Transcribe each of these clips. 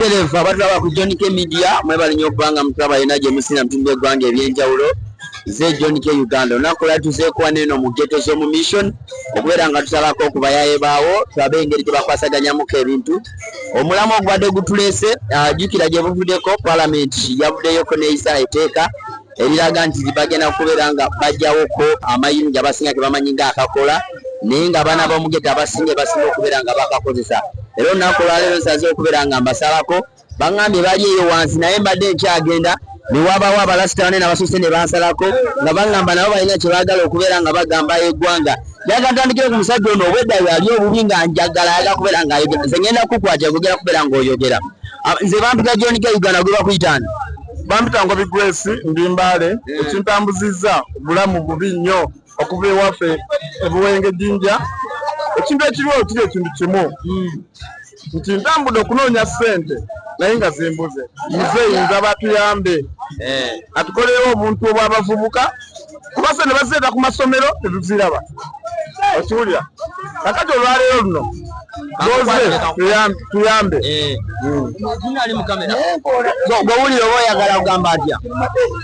Terevu abatulaba ku John K Media mwebale nnyo okubanga mutulaba yena gye musinira mutundu eggwanga eby'enjawulo ze John K Uganda olunaku lwa tuzeekuwa neeno mu geto z'omu mission okubeera nga tusalako ku bayaye baawo tulabe engeri gye bakwasaganyamuko ebintu omulamu ogubadde gutuleese ah, jjukira gye buvuddeko palamenti yavuddeyoko n'eyisa eteeka eriraga nti bagenda kubeera nga bajjawoko amayinja abasinga ge bamanyi nga akakola naye nga abaana b'omugeta abasinga basinga okubeera nga bakakozesa era olunaku olwaleero nsaze okubeera nga mbasalako baŋambye bali eyo wansi naye mbadde nkyagenda newabawo abalasitane nabasuse nebansalako nga bagamba nabo balina kyebagala okubeera nga bagamba egwanga yakatandikire ku musajja ono obwedda yali obubi nga njagala ayaga kubeera nga ayogera nze ngenda kukwatira kugera kubeera nga oyogera nze bantu ga jonika uganda gwebakuyitani bampita ngobi grace ndi mbaale eh. ekintambuzizza obulamu bubi nnyo okuva ewaffe ebuwenge jinja ekintu ekiriwo kiri ekintu kimu hmm. nti ntambudde okunoonya ssente naye nga zimbuze muzeeyi nza batuyambe eh. atukolerewo obuntu obw'abavubuka kuba ffe ne bazireeta ku masomero tetuziraba okiwulira kakati olwaleero luno oze tuyambe eh. hmm. gwewulira oba oyagala kugamba atya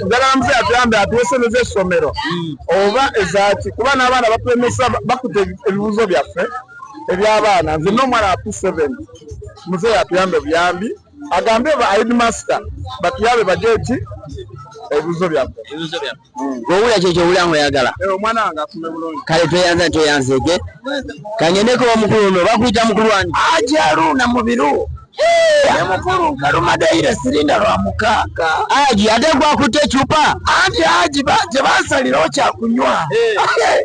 njagala muze atuyambe atuwesemeza essomero hmm. oba ezaki kuba n'abaana batulemesa bakuta ebibuzo byaffe eby'abaana nze n'omwana wa p7 muzeeyi atuyambe buyambi agambye ba headmaster batuyabe bajeti ebibuzo byabwe ebibuzo byabwe wowula hmm. kyekyo owula ngoyagala eh, omwana wange asume bulungi kale tweyanza tweyanzeege kangendeko omukulu ono bakuyita mukulu wange ajaru na mubiru mukulu nkalumadeyire sirinda lwa mukaaga aji ate gwakutte ecupa anti aji tebasalirawo kyakunywa eh.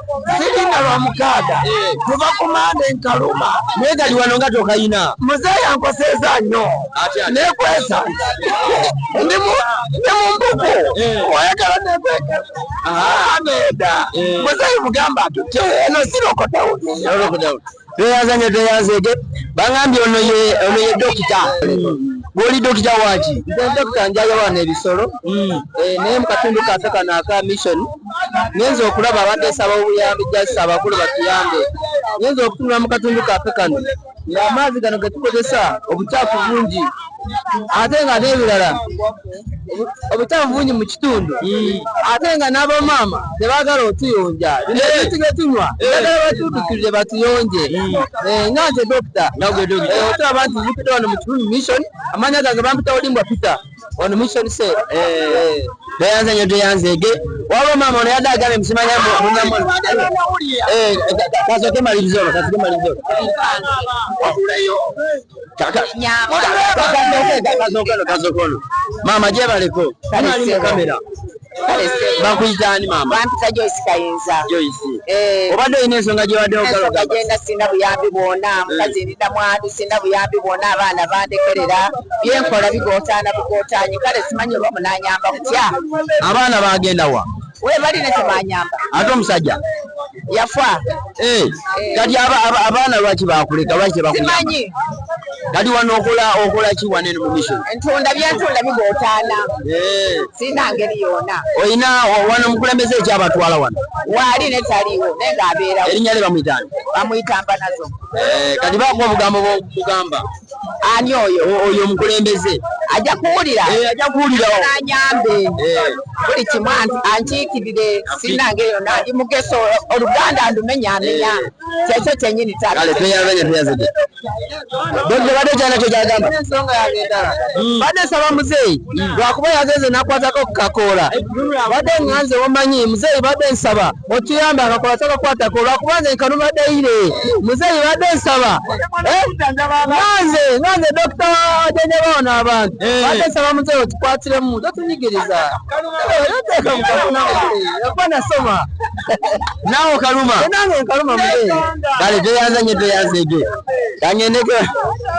siringa lwa mukaaga kuva ku mande nkaluma naye gali wano nga tokayina muzeeyi yankoseeza nnyo nekwesa ndi mu mbuku eh. oyagala nekweka ah. ameda eh. muzeeyi mugamba atutte eno sirokotawuni tweyanza nyo tweyanzege bangambye ono ye ono ye dokita gwoli dokita waki nze dokita njayo wana ebisolo hmm. eh, naye mukatundu kafe kano aka mission nyenza okulaba abadde saba obuyambi jasi abakulu batuyambe nyenza okutunula mukatundu kafe kano nga amaazi gano getukozesa obucaafu bungi ate nga n'ebirala obukyafu bungi mu kitundu hmm. ate nga n'abamaama tebagala otuyonja tuge tunywa bagala batudukirire batuyonje hmm. eh, nga nze dokita eh, otulaba nti zipita wano mu kitundu mission amanya gange bampita olimbwa pita wano mission se eh, tweyanze nyo tweyanzege waba maama ono yadde agambye musimanya kasoke malirizo kasoke malirizo maama gyebaleko ali mu kamera bakuyita ani maama bampita joyce kayinza joyce eh. obadde olina ensonga gyewade ogaloga genda sina buyambi bwona eh. mukazi ndina mwami sina buyambi bwona abaana bandekerera byenkola bigotaana bugotaanyi kale simanyi oba munanyamba kutya abaana bagenda wa webali ne tebanyamba ate omusajja yafa eh, eh. kati abaana lwaki bakuleka lwaki tebakumanyi kati wano okola okola ki wane no mission ntunda byantunda bigotaana eh. sina ngeri yona oyina wano mukulembeze ekyabatwala wano waali ne taliwo naye ng'abeerawo erinnya lye bamuyitani bamuyitamba nazo kati bakuwa obugambo bugamba ani oyo oyo omukulembeze ajja kuwulira eh, ajja kuwulira anyambe eh. buli kimu ankiikirire sinange yona ndi mugeso oluganda ndumenya amenya eh. kyekyo kyenyini taaleteyabenyeteyazide bwe bade kyana kyo kyagamba ensonga yange endala hmm. bade nsaba muzeeyi hmm. lwakuba yagenze nakwatako kukakoola bade nganze wamanyi muzeeyi bade nsaba okiyamba akakola kyakakwatako lwakuba nze nkanuma daire muzeeyi badde nsaba eh? nganze nganze dokita ajanjaba wano abantu eh. badde nsaba muzeeyi okikwatiremu totunyigiriza okuba nasoma nawe okaluma eh, nange nkaluma muzeeyi kale toyanza nyo toyanza ejo kangendeko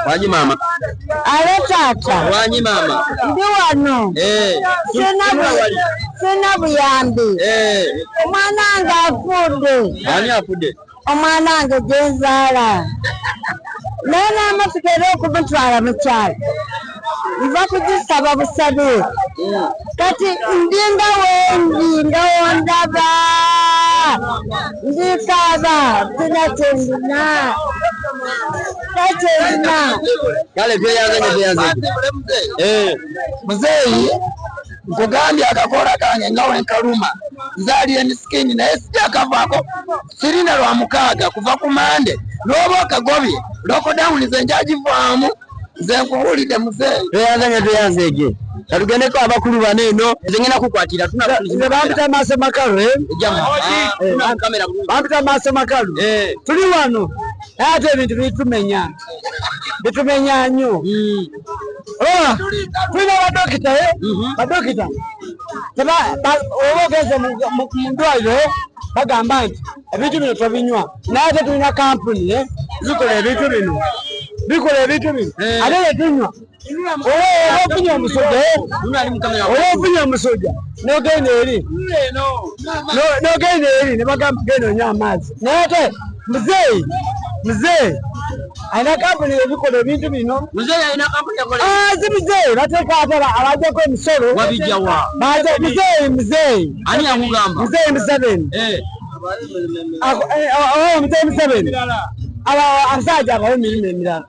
wangi maama Alo taata. Wanyi mama. Ndi wano. Eh. Sina bu sina buyambi. Eh. Omwana nga afude. Ani afude? Omwana nga jenzala. Nana amafikere okumutwala mu kyalo. Nva kujisaba busabe. Mm. Kati ndi nga wendi nga wondaba. Ndi kaba. Tina tendina. kale tweyanzenyo tweyanzenyo eh. muzeeyi nkugambye akakola kange nga wenkaluma nzaali emisikini naye sijakavaako sirina lwa mukaaga kuva ku mande n'oba okagobye lokodawuni ze njagivaamu nze nkubuulidde muzeeyi tweyanzenyo tweyanzeege katugendeko abakulu bano eno zengena kukwatira bampita maaso makalu eh? ah, eh, bampita maaso makalu eh. tuli wano naye ate ebintu bitumenya bitumenya nnyo hmm. ah, tulina badokita eh? mhm. badokita oba ogenze mu ndwaliro eh? bagamba nti ebintu bino tobinywa naye ate tulina kampuni eh? zikola ebintu bino bikola ebintu bino ate tetunywa ofunye omusajja oba ofunye omusajja nogenda eri nogenda eri nebagamba genda onyo amaazi naye ate muzeeyi muzeeyi alina kampuni ebikola ebintu bino azi muzeeyi bateeka ate abajjako emisolo muzeeyi muzeeyi muzeeyi museveni eh. eh, oh, oh, muzeeyi museveni abasajja abawo emirimu emirala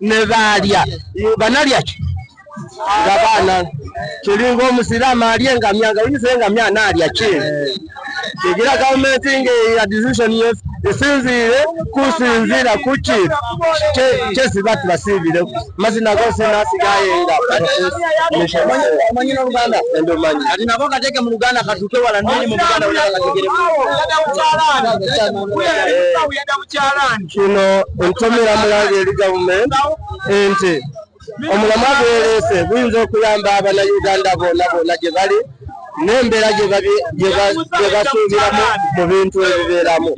ne baalya banalya ki nga baana kiringa omusiraamu alya engamya nga oyinza engamya anaalya ki kigira gavumenti nga decision esinziire kusinziira kuki kyesiba tubasiibire mazina gosinasigaye nga Kino entomera mulanga eri government nti omulamwa gweleese guyinza okuyamba abana Uganda bona bona gye bali n'embeera gye basuubiramu mu bintu ebibeeramu.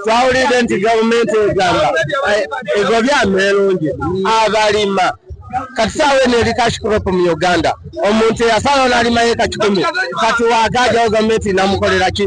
Twawulidde nti gavumenti egamba eh, egobye ameerungi abalima kati saawa eno eri cash crop mu Uganda omuntu eyasalawo n'alima yeeka kikumi kati waagaajawo gavumenti namukolera ki?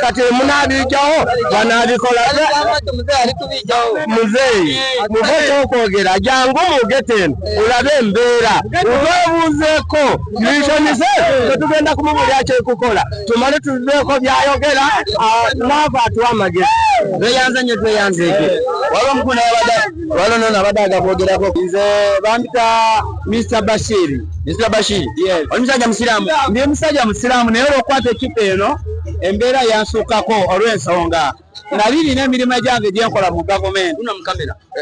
kati munabijawo banabikola muzeeyi muveko okwogera jangu mugeteni olabe embeera ubebuuzeko misonize tetugenda kumubulya kyekukola tumale tuzeeko byayogera naava atuwa amagezi tweyanze nyo tweyanzeeko waliwo mukuna abada waliwo nono abadde agakwogerako nze bambita mr bashiri mr bashiri omusajja musiraamu ndi musajja musiraamu naye olwokukwata ekipa eno embeera yansukkako olw'ensonga nali nina emirimu egyange gyenkola mu gavumenti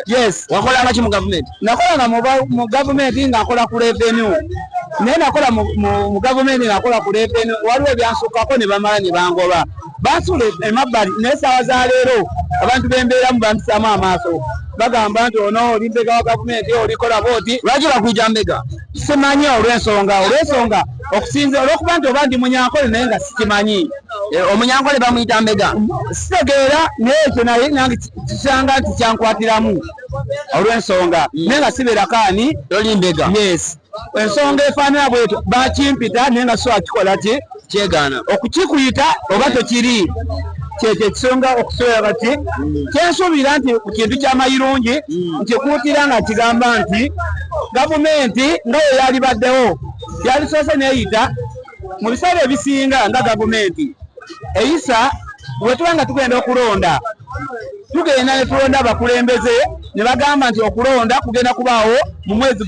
yes wakolangaki mu gavumenti nakolanga mu gavumenti nga nkola ku revenu naye nakola mu gavumenti nakola ku revenu waliwo ebyansukkako ne bamala ne bangoba bansula emabbali naye saawa za leero abantu bembeeramu bampisaamu amaaso bagamba nti ono oli mbega wa gavumenti olikola booti lwaki bakwijambega simanyi olwensonga olwensonga okusinza olwokuba nti oba ndi munyankole naye nga sikimanyi eh, omunyankole bamuyita mbega sitegeera naye ekyo naye nange kisanga nti kyankwatiramu olwensonga hmm. naye nga sibeerako ani oli mbega yes ensonga efaanana bwetyo bakimpita naye nga so akikola ki kyegaana okukikuyita oba tekiri kyekyo ekisonga okusobola bati kyensuubira nti ku kintu kyamayirungi nkikuutira nga kigamba nti gavumenti nga ye yalibaddewo yalisoose neyita mu biseera ebisinga nga gavumenti eyisa wetuba nga tugenda okulonda tugenda netulonda abakulembeze ne bagamba nti okulonda kugenda kubaawo mu mwezi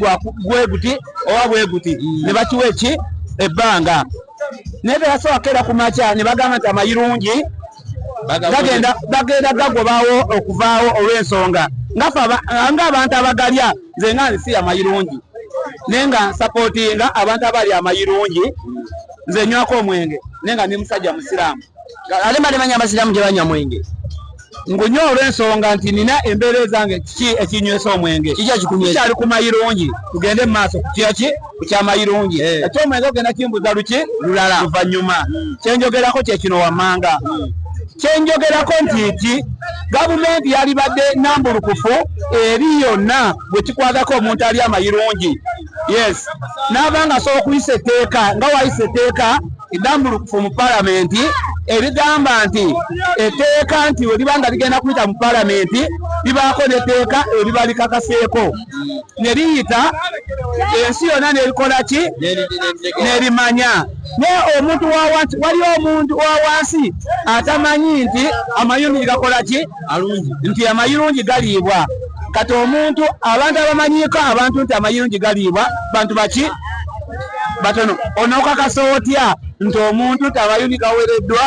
gweguti oba bweguti ne bakiwa eki ebbanga naye teyasoboka era ku makya ne bagamba nti amayirungi bagenda bagenda gagobawo okuvaawo olw'ensonga ng'abantu abagalya nze nga nsi amayirungi naye nga nsapootinga abantu abali amayirungi nze nywako omwenge naye nga ndi musajja musiraamu ate mbalimanya abasiraamu tebanywa mwenge ngunywa olw'ensonga nti nina embeera ezange kiki ekinywesa omwenge kikyali ku mayirungi tugende mu maaso kukyaki ku kyamayirungi eh. ekyomwenge ogenda kimbuza luki lulala luvannyuma kyenjogerako kyekino wammanga kyenjogerako nti nti gavumenti yalibadde nambulukufu eri yonna bwe kikwagako omuntu ali amayirungi yes naaba nga asobola okuyisa etteeka nga wayisa etteeka edambulukufu mu palamenti erigamba nti etteeka nti weliba nga ligenda kuyita mu palamenti libaako netteeka eriba likakaseeko ne liyita ensi yonna nerikola ki nerimanya naye omuntu wawansi waliwo omuntu wawansi atamanyi nti amayundi gakola ki alungi nti amayirungi galiibwa kati omuntu abantu abamanyiiko abantu nti amayirungi galiibwa bantu baki batono onokakasa otya nti omuntu nti amayirungi gawereddwa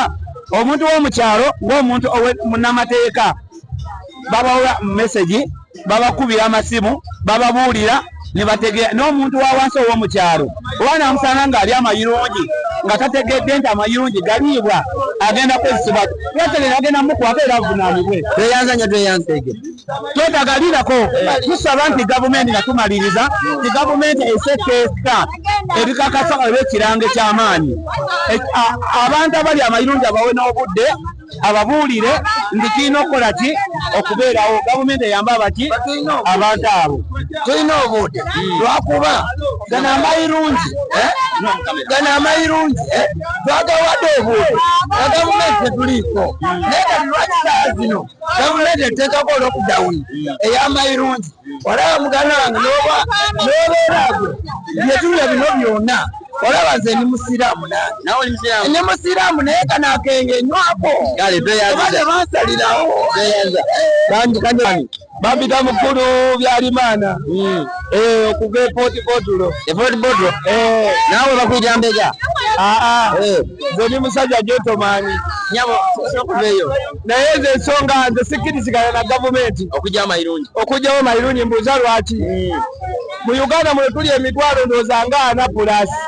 omuntu womukyalo ngaomuntu munamateeka babawa mesagi babakubira amasimu bababuulira nebategeera n'omuntu wa wansi ow'omu kyalo oba namusanga ng'ali amayirungi nga tategedde nti amayirungi galiibwa agenda kwezisiba yategere agenda mukwata era avunaanibwe tweyanza nyo tweyanza ege twetagalirako tusaba nti gavumenti nga tumaliriza ti gavumenti esekeesa ebikakasa olw'ekirango eky'amaanyi abantu abali amayirungi abawe n'obudde ababuulire nti kirina okukola ki okubeerawo gavumenti eyamba abaki abantu abo tulina obuude lwakuba gana amayirungi eh? gana amayirungi eh? twagawadde obuude na gavumenti tetuliiko naye kati lwaki saa zino gavumenti eteekako olwokudawuni ey'amayirungi olaba muganda wange nobeera gwe byetuula bino byona olaba nze ndi musiraamu ndi musiraamu naye kano akenge nywako obade bansalirawo bampita mukulu byalimaana hmm. eh, okuva epotipotulo epotipotulo eh. naawe bakuja mbega aa ah, ah. eh. nze ndi musajja gyotomaani nyabo sokuveyo naye ezo ensonga nze sikkirizigana na gavumenti okugyawo mayirungi okugyawo mayirungi mbuuza lwaki hmm. mu uganda muno tuli emitwalo ndooza ngaana pulasi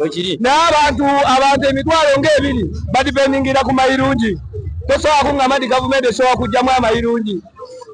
ekiri naye abantu abantu emitwalo ngaebiri badipendingira ku mayirungi tosobola kungamba nti gavumenti esobola kugyamu amayirungi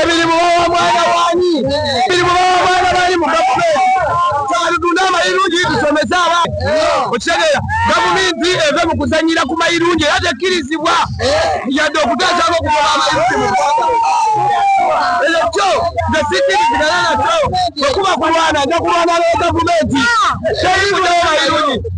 ebirimu bawa mwana wani ebirimu bawa mwana bali mu gavumenti kyaludunda amayirungi tusomese abantu okitegeera gavumenti eve mu kuzanyira ku mayirungi era tekkirizibwa yadde okuteesanga okugoba amayirungi mu ekyo kyo nze sikirizigana nakyo okuba kulwana nja kulwana ne gavumenti teyibudeo mayirungi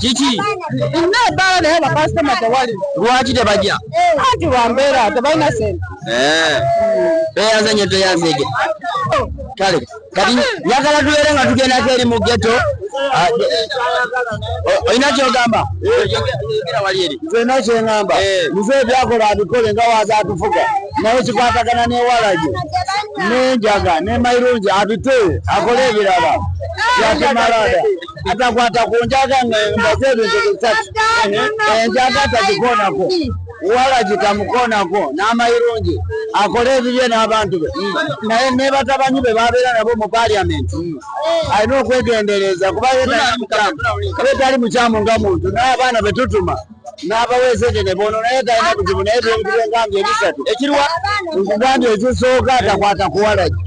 kiki nebala naye bakasitoma tewali lwaki tebajja anti bambeera tebalina sente beyanze nyo teyanzege kale kati njagala tubeere nga tugendako eri mu geto ah, olina kyogamba zena kyengamba eh. muze ebyakola abikole nga waza atufuga naye kikwatagana newalage nenjaga nemairungi abite akole ebirala yakimalada atakwata ku njaga nga mbaze ebintu bisatu enjaga eh, eh, tagikonako walagi tamukoonako n'amayirungi akole ebibye n'abantu be naye ne batabanyi be babeera nabo mu parliament alina okwegendereza kuba yetali mukyamu nga muntu naye abaana betutuma n'abaweesa ekyo ne bono naye talina buzibu naye byebintu byengambye ebisatu ekiriwa nkugambye ekisooka atakwata kuwalagi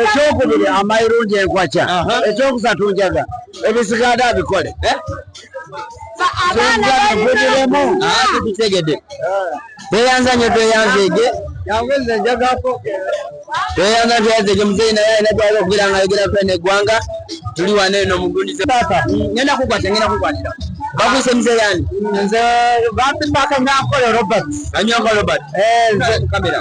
ekyokubiri amayirungi enkwakya ekyokusatu njaga ebisiganda abikole eh? tweyanza nyo tweyanzeege tweyanza tweyanzeege muzeeyi naye alina gwali okubeera nga ayogera kwena eggwanga tuli wana eno mugundize ngenda kukwata ngenda kukwatira bakuyise muzeeyi ani nze bampimbaka nyankola robert anyankola robert eh, kamera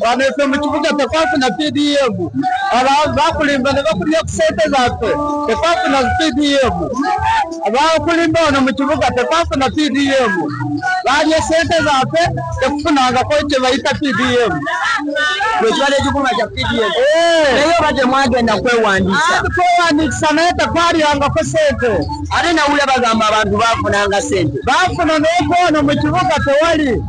wano ife mu kibuga tekwafuna pdm bakulimba ne bakulya ku sente zaffe tekwafuna pdm bakulimba wano mu kibuga tekwafuna pdm balya sente zaffe tekufunangako kye bayita pdm ekibadde kikuma kya pdm eh. naye oba temwagenda kwewandiisa kwewandiisa naye tekwalyangako sente ate nawulya bagamba abantu bafunanga sente bafuna nokwano mu kibuga tewali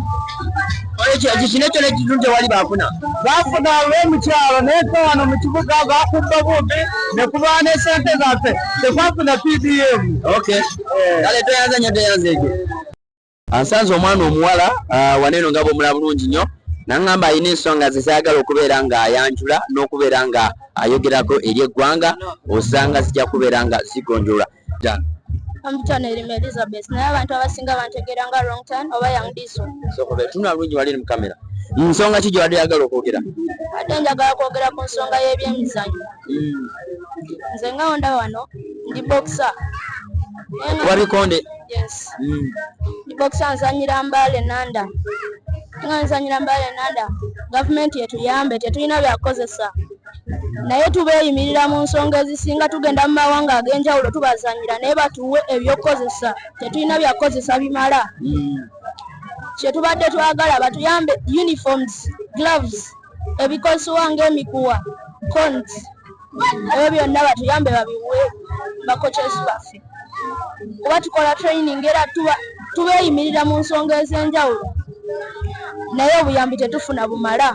kino ekyo nekizibu tewali bafuna bafuna olwomukyalo naye fe wano mu kibuga bakubba bumbi nekuba nesente zaffe tekwafuna pdm eh. kale toyanza nyo toyanza ekyo ansanze omwana omuwala ah, waneeno nga bwomula bulungi nnyo nangamba alina ensonga zezayagala okubeera nga ayanjula n'okubeera nga ayogerako eri eggwanga osanga zijja kubeera nga zigonjola Jan. Amutana elimu Elizabeth. Naye abantu abasinga bantegera nga wrong turn oba young diesel. So kuba tuna lungi wali mu kamera. Nsonga ki gyewali agala okwogera? Ate njagala kwogera ku nsonga y'ebyemizanyo. Mm. Nze nga onda wano ndi boxer. Wali konde? Yes. Mm. Ndi boxer nzanyira mbale nanda. Nga nzanyira mbale nanda. Gavumenti etuyambe tetulina byakukozesa. naye tubeeyimirira mu nsonga ezisinga tugenda mu mawanga ag'enjawulo tubazanyira naye batuwe ebyokukozesa tetulina byakukozesa bimala hmm. kyetubadde twagala batuyambe uniforms gloves ebikozesebwa ng'emikuwa cons ebyo byonna batuyambe babiwe bakokyesi baffe kuba tukola training era tubeeyimirira mu nsonga ez'enjawulo naye obuyambi tetufuna bumala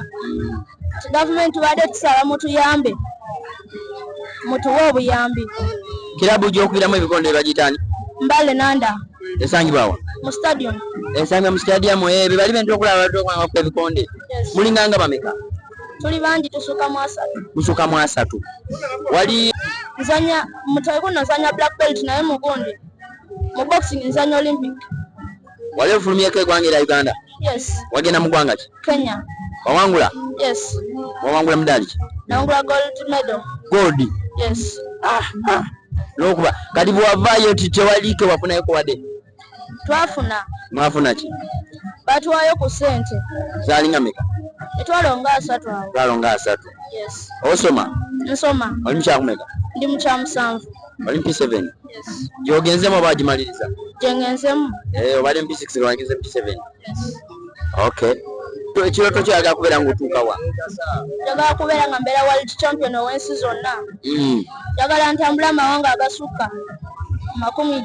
gavumenti tubadde tusaba mutuyambe mutuwe obuyambi kirabu gy'okubiramu ebikondo ebagitani mbale nanda esangibwawa mu stadium esangibwa mu stadium ebyo eh, bali bentera okulaba baddokubanga kuba ebikonde mulinga nga bameka tuli bangi tusuka mu asatu musuka mu asatu wali nzanya mutaiku nazanya black belt naye mugundi mu boxing nzanya olympic wali ofulumyeko egwanga era uganda yes wagenda mu gwanga ki kenya wawangula yes wawangula mudali ki nawangula gold medal gold yes ah, ah. nokuba kati bwavayo titewalike wafunayeko wade twafuna mwafuna ki batuwayo ku sente zalinga meka etwalo nga asatu awo twalo nga asatu yes osoma nsoma oli mukyakumeka ndi mukyamusanvu oli mp seven yes gyogenzemu oba agimaliriza gyengenzemu Eh, obadde mp six lwangiza mp seven yes okay So, ekirooto kyoyagala kubeera ngaotuuka wa njagala kubeera nga mbeera world champion ow'ensi zonna Mm. njagala ntambula amawanga agasukka makumi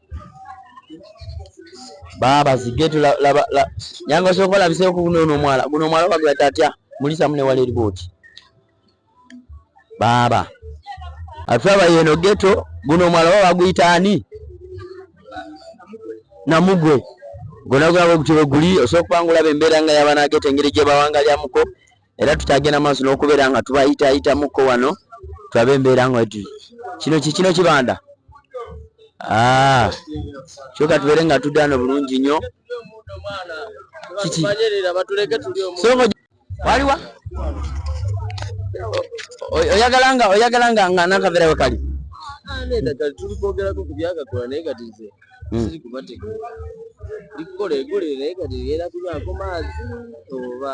baaba zigetu yange osobola okwalabiseeko guno ono omwala guno omwala obagira tatya mulisamu newala eribooti baaba atulaba yeno geto guno omwala oba baguyita ani namugwe gona gulaba ogutyo bweguli osobola okubanga olaba embeera nga yabanageta engeri gyebawangalyamuko era tukyagenda maaso n'okubeera nga tubayitayitamukko wano tulabe embeera nga wetuli kino kikino kibanda ah, kyoka tubeere nga tuddaano bulungi nnyo kiki waliwa oyagala nga oyagala nga nga nakavera wekali ah, hmm. ziri kubateka likukola egule naye kati era kubaako maazi oba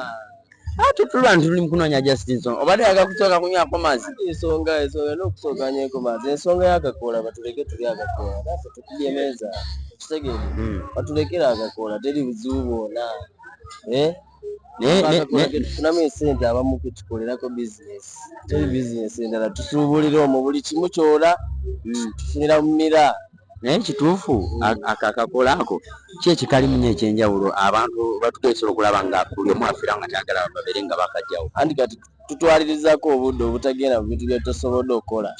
tuba nti tuli mukunoonya justice obadde yaga kusooka kunywako maazi ensonga ensonga n'okusooka nyweko maazi ensonga yakakoola batuleke tuli akakoola nafe tukujemeeza kitegeere hmm. batulekera akakoola teri buzibu bwona eh? tufunamu esente abamu kutukolerako bizinesi teri bizinesi endala tusuubulira omwo buli kimu kyola hmm. tufunira mu mira naye kituufu akakola ako ki ekikalimu nyo ekyenjawulo abantu batugesobola okulaba nga buli omu afira nga tayagala babeere nga bakajjawo tutwalirizako obudde obutagenda mu bintu byetosobodde okukola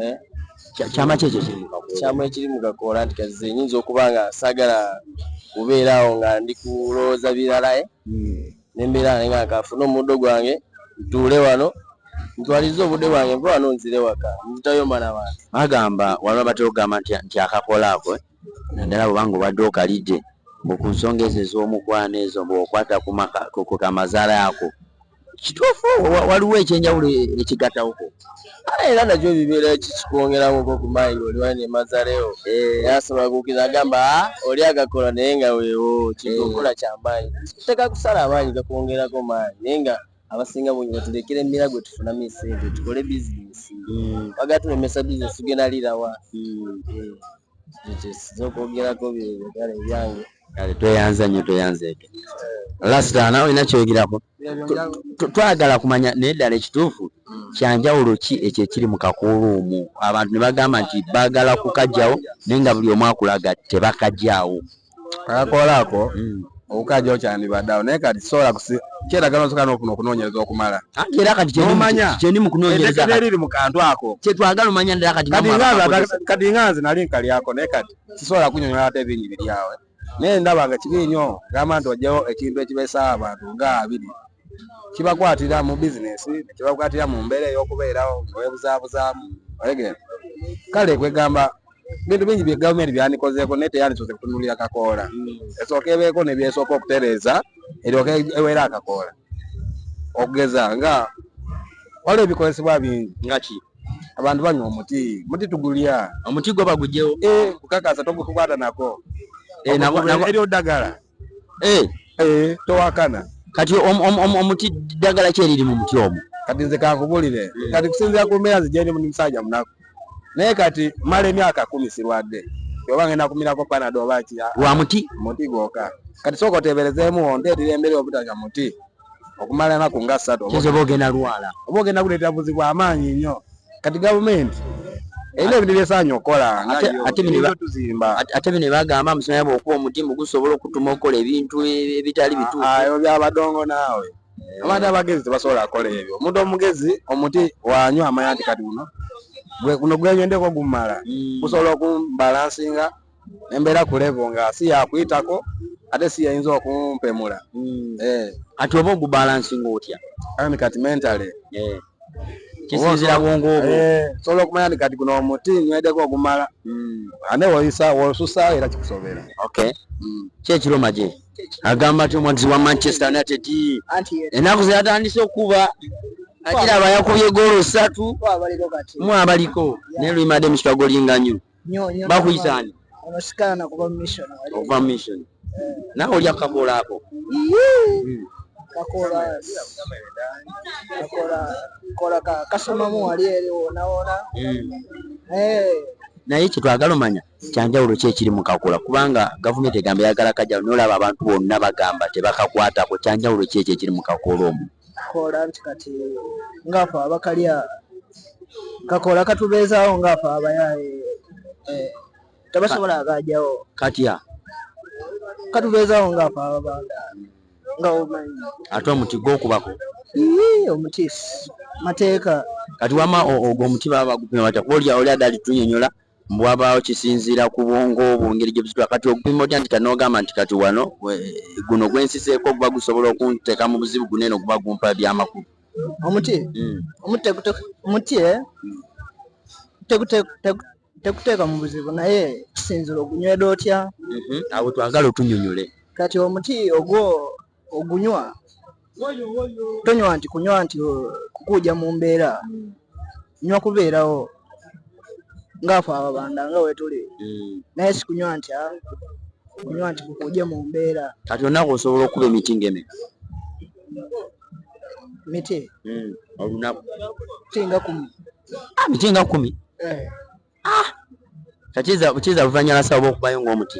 eh? kyama ki ekyo kyama ekiri mu kakoola nti kazize nyinza okuba nga sagala kubeeraawo nga ndi kulowooza biralae eh? hmm. nembeera nga nga kafuna omuddo gwange ntuule wano ntwalize obudde bwange nva wano nzire waka nzitayo mana bantu agamba waliwo batera okugamba nti akakola ako eh? naddala bwobanga obadde okalidde mbu ku nsonga ezo ez'omukwano ezo mbu okwata ku kamazaala ako kituufu waliwo ekyenjawulo ekigatawoko kale era nakyo bibeera kikikwongeramu ko ku mayi nga oliwali ne mazalewo eh. yasobola kuukira agamba ah, oli agakola naye nga weewo kikokola eh. kya maanyi teka kusala amaanyi gakwongerako maanyi naye nga abasinga bungi batuleekera emira gwe tufunamu esente tukole bizinesi mm. bagala tulemesa bizinesi tugenda lirawa mm. eh, ekyo okwogerako byebagala ebyange kale tweyanza nnyo tweyanza ebyo lasitaana olina kyoyogerako twagala kumanya naye ddala ekituufu mm. kyanjawulo ki ekyo ekiri mu kakuulu omu abantu ne bagamba nti baagala kukajjawo naye nga buli omu akulaga tebakajjawo akakolako mm. obukaja okyandibadde awo naye kati sobola kyetagala osoka nofuna okunoonyereza okumala era katikyeni mukunoonyerezeriri mu kantu ako kyetwagala omanya ddala katikati nga nze nali nkalyako naye kati sisobola kunyonyola ate ebingi biri awe naye ndaba nga kibi nnyo gamba nti ojjawo ekintu ekibeesawo abantu nga abiri kibakwatira mu bizinesi nekibakwatira mu mbeera ey'okubeerawo newebuzabuzaamu olegere kale kwegamba bintu bingi bye gavumenti byandikozeeko naye teyandisoose kutunulira kakoola hmm. esooka ebeeko nebyesooka okutereeza eryoka ewera akakoola okugeza nga waliwo ebikozesebwa bingi nga ki abantu banywa omuti muti tugulya omuti gwo bagugyewo eh, kukakasa togukwata nako eh, eryo ddagala eh eh towakana kati omuti ddagala kyeriri mu muti omu kati nze kankubulire hmm. kati kusinzira ku mbeera nzijendi muni musajja munaku naye kati mala emyaka kumi sirwadde oba ngenda kumirako panado oba kiya lwa muti muti gwoka kati sooka oteeberezeemu ondeetera embeera obutanya muti okumala enaku nga ssatu kyoza oba ogenda lwala oba ogenda kuleeta buzibu amaanyi nnyo kati gavumenti erina ebintu byesaanya okukola tuzimba ate bino bagamba amusomera bwokuba omuti mugusobola okutuma okukola ebintu ebitali bituuyo byabadongo naawe eh. abantu abagezi tebasobola kukola ebyo omuntu omugezi omuti wanywa amanya nti kati guno guno gwenyendeko gumala hmm. gusobola okumbalansinga nembeera ku level nga si yakuyitako ate si yayinza okumpemula hmm. eh. kati oba ogubalansinga otya ani kati mentale eh. kisinzira bwongo obwo eh, sobola okumanya nti kati guno omuti nywedeko ogumala hmm. ane woyisa wosusa era kikusobera okay hmm. kyekiro maje agamba ti omwagizi wa manchester united enaku zeyatandise okuba akiraba yakubye goolo satu mwabaliko naye luimade mukitwagolinganyo bakuyitani ova mission nawe olya kakoola ako kakoola kakoola kola ka kasomamu wali eri wonaona hmm. eh. naye kyetwagala omanya kyanjawulo ki ekiri mu kakula kubanga gavumenti egamba eyagala kajawulo naye olaba abantu bonna bagamba tebakakwatako kyanjawulo ki ekyo ekiri mu kakula omu kola nti kati ngafe abakalya kakola katubeezaawo ngafe abayaaye eh, tebasobola agajawo katya katubeezaawo ngafe ababanda nga omanyi ate omuti gwokubako omuti mateeka kati wama ogwo omuti baba bagupima batya kuba olya oli adali tunyonyola bwabaawo kisinziira ku bwongo bwo ngeri gye busitula kati okupima otya nti kati n'ogamba nti kati wano guno gwe nsiseeko guba gusobola okunteeka mu buzibu guno eno guba gumpa ebyamakulu omuti hmm. omuti omuti eh? tekuteeka mu buzibu naye kisinziira ogunywera otya mhm. awo twagala otunyonyole kati omuti ogwo ogunywa tonywa nti kunywa nti kukuuja mu mbeera nywa kubeerawo ngaafe ababanda nga wetuli hmm. naye sikunywa nti ah, kunywa nti kukuuja mu mbeera kati olunaku osobola okuba emiti ngeme miti hmm, olunaku miti nga kumi ah, miti nga kumi eh. ah! kati kiza luvanyala sawa okubayo ngaomuti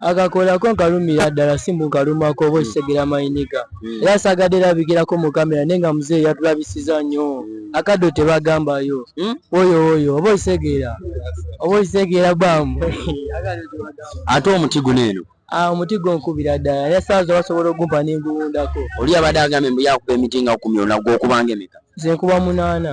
akakolako nkalumira ddala simbu nkalumako oba okisegera mayiniga hmm. era sagadde era bigirako mu kamera naye nga muzeeyi yatulabisiza nnyo hmm. akaddo tebagambayo hmm? oyo oyo oba okisegeera oba okisegeera bamu ate omuti guno eno ah, omuti gwo nkubira ddala era saaza basobola ogumpa nenguwundako oli abadde agambye mbu yakuba emiti nga kumyona gwokubanga emeka nze nkuba munaana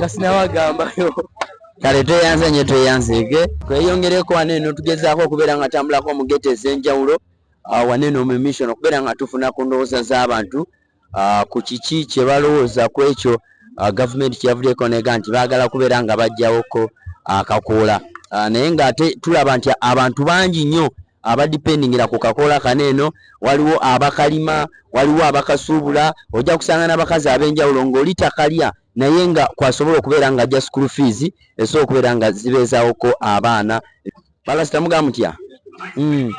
nasinawo agambayo kale tweyanze nyo tweyanzeege tweyongereko wane eno tugezaako okubeera nga tambulako mu gete ez'enjawulo ah, wane eno mu mission okubeera nga tufuna ku ndowooza z'abantu ah, ku kiki kye balowooza ku ekyo ah, gavumenti kyeyavuddeko nega nti baagala kubeera nga bajjawoko akakoola naye ng'ate tulaba nti abantu bangi nnyo abadipendingira ku kakoola kano eno waliwo abakalima waliwo abakasuubula ojja kusanga n'abakazi ab'enjawulo ng'oli takalya naye nga kwasobola okubeera nga ajja school fees esobola okubeera nga zibeezaawoko abaana balasita mugaa mutya hmm.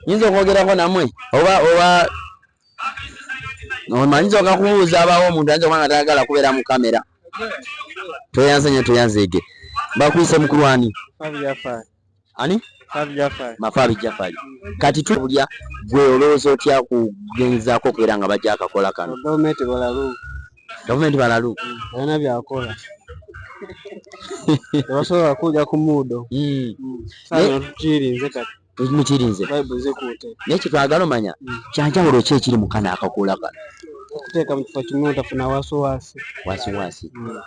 nyinza okwogerako namwe oba oba omanyinza oga kubuuza abaawo omuntu ayinza okuba nga tayagala kubeera mu kamera tweyanze nyo tweyanzeege bakwise mukulwani ani mafaabi jafali kati tulya gwe olowooza otya kugenzaako okubeera nga bajja akakola kano gavumenti balalu alina byakola tebasobola kuja ku muudo tukirinze kati mukirinze naye kyetwagala omanya hmm. kyanjawulo ki ekiri mukana akakuula kano okuteeka mu kifo kimu otafuna wasiwasi wasiwasi hmm.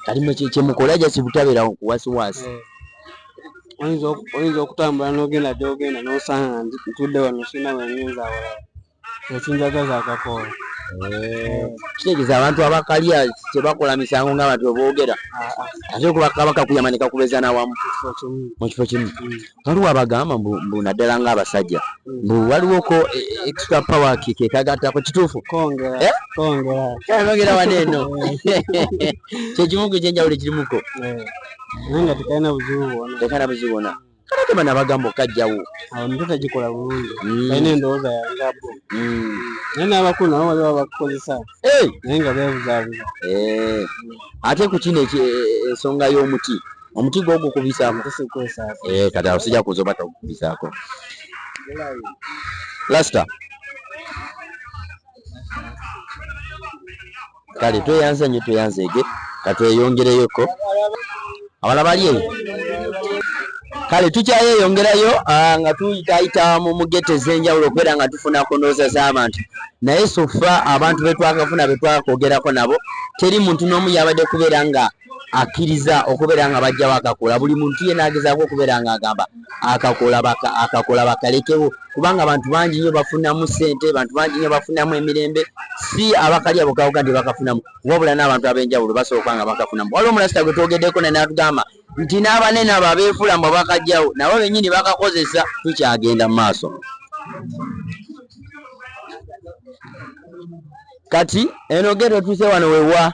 kati mwe kyemukola jasi butabeera kuwasiwasi eh. oyinza okutambula nogenda gyogenda nosanga ntudde wano sina wenyinza awala ekinjagaza akakoola eh. kitegeeza abantu abakalya tebakola misango nga abantu beboogera ah, ah. ate kubakabakakuyama nekakubeza nawamu mu kifo kimu hmm. waliwo abagamba mbu naddala nga abasajja mbu waliwo ko e, e, extra power kike kagattako kituufu kongeraongera eh? wano eno kyekimu ku kyenjawulo ekirimuko eh. naye nga tekalina buzibu bwona tekalina buzibu bwona kale tebana bagamba okajjawo awo nito tagikola bulungi mm. alina endowooza yangabo mm. naye n'abakulu nabo waliwo bakukozesa naye nga bebuzabuza eh. ate ku kino ensonga y'omuti omuti gwo gukubisaako eh, kati awo sija kuzoba tagukubisaako lasita kale tweyanze nyo tweyanzeege katweyongereyoko abala bali eyo kale tukyayeyongerayo ah, nga tuyitayita mu mugete ez'enjawulo okubeera nga tufuna kunooza z'abantu naye sofa abantu betwakafuna betwakogerako nabo teri muntu n'omu yabadde kubeera nga akkiriza okubeera nga bajjawo akakola buli muntu yena agezaako okubeera nga agamba akakola bakalekewo kubanga abantu bangi nyo bafunamu sente bantu bangi nyo bafunamu emirembe si abakalya bokawoga nti bakafunamu wabula n'abantu ab'enjawulo basooka nga bakafunamu wali omulasita gwe twogeddeko ne natugamba nti n'abanene abo abeefula mbu bakajjawo nabo bennyini bakakozesa tukyagenda mu maaso Kati eno geto otuuse wano wewa